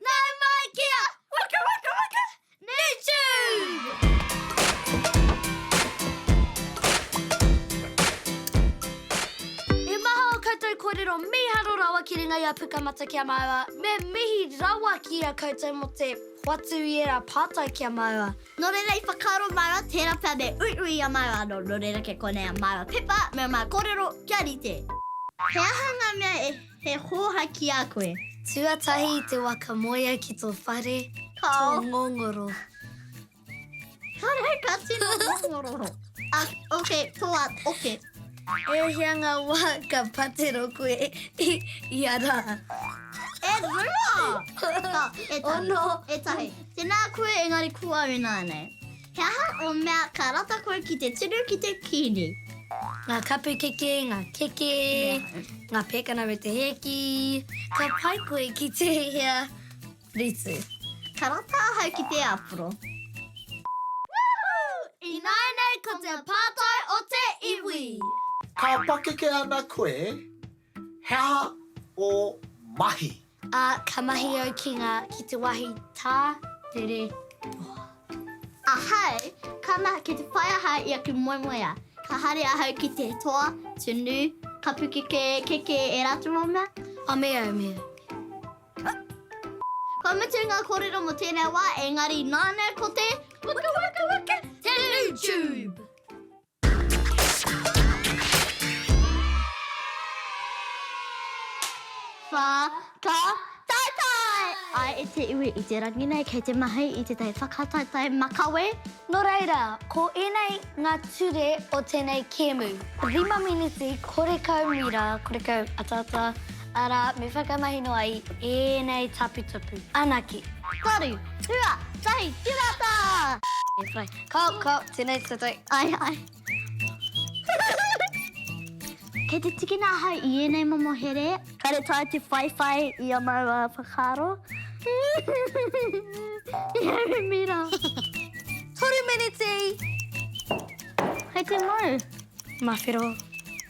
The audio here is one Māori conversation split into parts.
Nau mai kia waka waka waka Nature! He maha o koutou korero miharo rawa ki runga i a Pukamata kia maua, me mihi rawa ki a koutou mo te hoatu i era patai kia maua. No reira i whakaaro maua tera pea me uiui i a maua ano, no reira ke konei a maua pepa me a maua korero kia rite. He aha nga mea e He hōhā ki a koe. Tuatahi i te waka moea ki tō whare, tō ngongoro. Whare ka tino ngongoro. Ok, tō at, oke. E hea ngā wā ka patero koe i a rā? E rua! Ka, e tahi, e tahi. Tēnā koe engari ko au e nānei. He aha o mea ka rata koe ki te tunu ki te kini? Nga kapu keke, nga keke, nga pekana me te hēki. Ka pai koe ki tēhea ritu? Ka rata ahau ki te aporo. Woohoo! Ināianei ko te pātai o te iwi! Ka pakeke ana koe He aha o mahi? A, Ka mahi au ki nga, ki te wahi ta, tere, toha. Ahau, ka mahi, ki te whai ahau i aku moemoeā. Ka haere ahau ki te toa, tunu, kapu keke, keke, e ratou o mea. A, Me au, me au, me au. Kua mutu nga korero mo tenei wa, engari nana ko te, waka, waka, waka, te YouTube. Wha ka taetae! Ae e te iwi i te rangi nei kei te mahi i te tai whakataetae makawe. No reira, ko enei nga ture o tenei kemu. Rima miniti, korekau mira, korekau ataata. Arā, me whakamahi noa i ēnei taputapu anake. Taru, hua, tahi, tirata! E whai. Ko, ko, tēnei tatau. Ai, ai. Kei te tikina ahau i ēnei momo here. Kāre tae te whaiwhai i a maua whakaaro. I a Remira. Toru meneti! Kei te mau. Mawhero.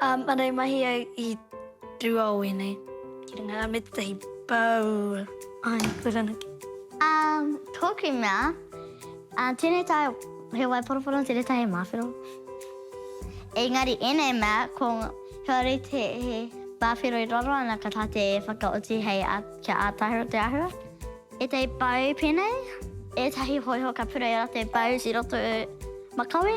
Māngai mahi au i rua o ēnei, ki runga rā me tētahi pou. Āe, koe ranake. Tōku mea, tēnei tae he wai poroporo, tēnei tae he māwhero. Engari ēnei mea, ko kāore i te he māwhero i raro ana ka taea te whakaoti hei kia ātaahua te āhua. Ētahi pou pēnei, ētahi hōiho ka pureia rā te boughs i roto makawe.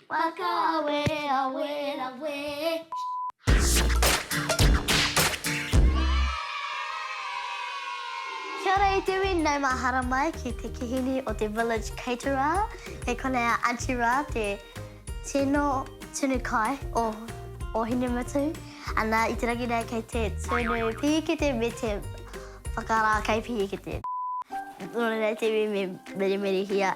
Whakaawe, awe, rawe. Kia ora e Dewi, nau mahara mai ki te kihini o te Village Caterer. Kei konei a Aunty Ra, te tino tunu kai o Ōhinemutu. Ana i te rangi nei kei te tunu pīkete me te whakarā kai pīkete. Nō reira e Dewi me merimerihia.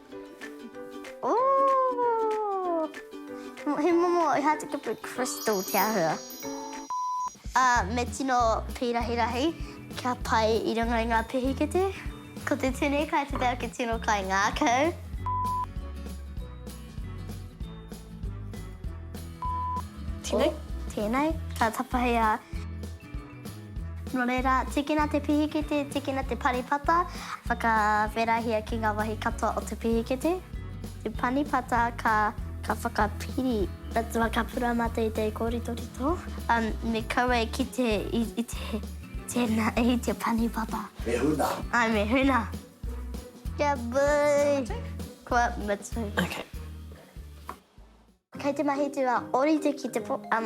Ooh! He momo i hāteke pū crystal te āhua. Ā, me tino pīrahirahi kia pai i runga i ngā pehikete. Ko te tini kai te tau ki tino kai ngākau. Tēnei? Tēnei, ka tapahi a. Nō reira, tīkina te pihikete, tīkina te panipata, whakawherahia ki ngā wāhi katoa o te pihikete. Te panipata ka whakapiri atu a Ka Pura mā teitei kōritorito, me kaua e kite i tēnā, i te panipata. Me huna. Āe, me huna. Kia hui! Kua mutu. Kua mutu. Okay. Kei te mahi te wa orite ki te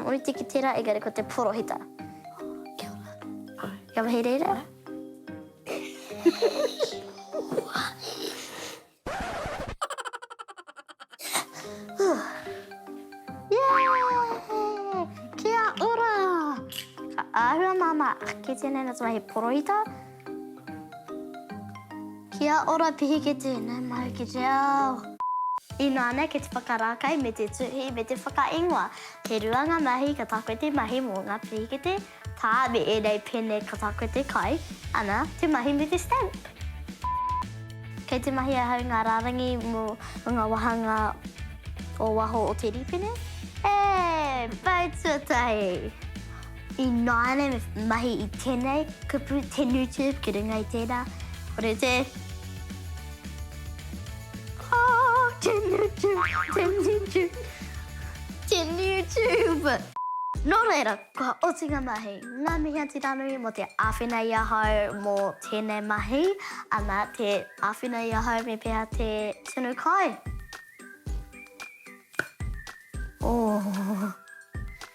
orite ki tera engari ko te porohita. Kia ora. Kia mahi reira. Kia ora. Ahua mama. Kei tenei na te mahi porohita. Kia ora pihike tēnei mai ki te ao. Inā nei ki te whakarākai me te tuhi me te whakaingoa. He rua ngā mahi ka tākwe te mahi mō ngā pihikete, tā, me ēnei pēne ka tākwe te kai, ana, te mahi me te stamp. Kei te mahi ahau ngā rārangi mō ngā wāhanga o waho o te rīpene. Ē! Pau tuatahi! Ināianei me mahi i tēnei kupu te Newtube ki runga i tērā, kore te. Aa, te Newtube, te Newtube, te Newtube! Nō reira, kua oti ngā mahi. Ngā mihi a Tiranui mō te āwhina i ahau mō tēnei mahi, ana, te āwhina i ahau me pēhea te tunu kai. Ohh.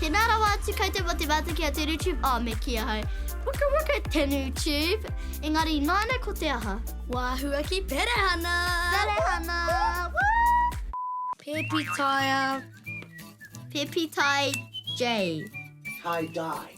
Tēnā rawa atu koutou mō te mātaki a Tenu Tube. Oh, me ki ahau. Waka waka Tenu Tube. Engari, nāna ko te aha? Wāhua ki Perehana! Perehana! Pēpi Taia. Pēpi Tai Jay. Tai Dai.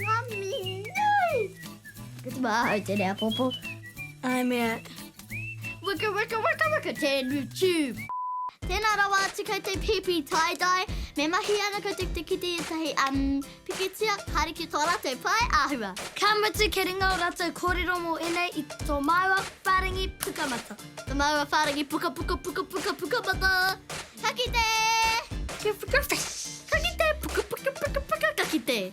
Mami nui! Ko te maha ahau tenei apopo. Ae mea. Waka waka waka waka tenu tube. Tēnā rawa atu kei te pēpi tie-dye, me mahia ana koutou ki te kite i ētahi umm pikitia, haere ki tō rātou pae āhua. Ka mutu kia ringa ō rātou kōrero mō ēnei i tō māua whārangi pukamata. Tō māua whārangi pukapuka pukapuka pukamata. Ka kite! Ka kite! Puka puka puka puka ka kite!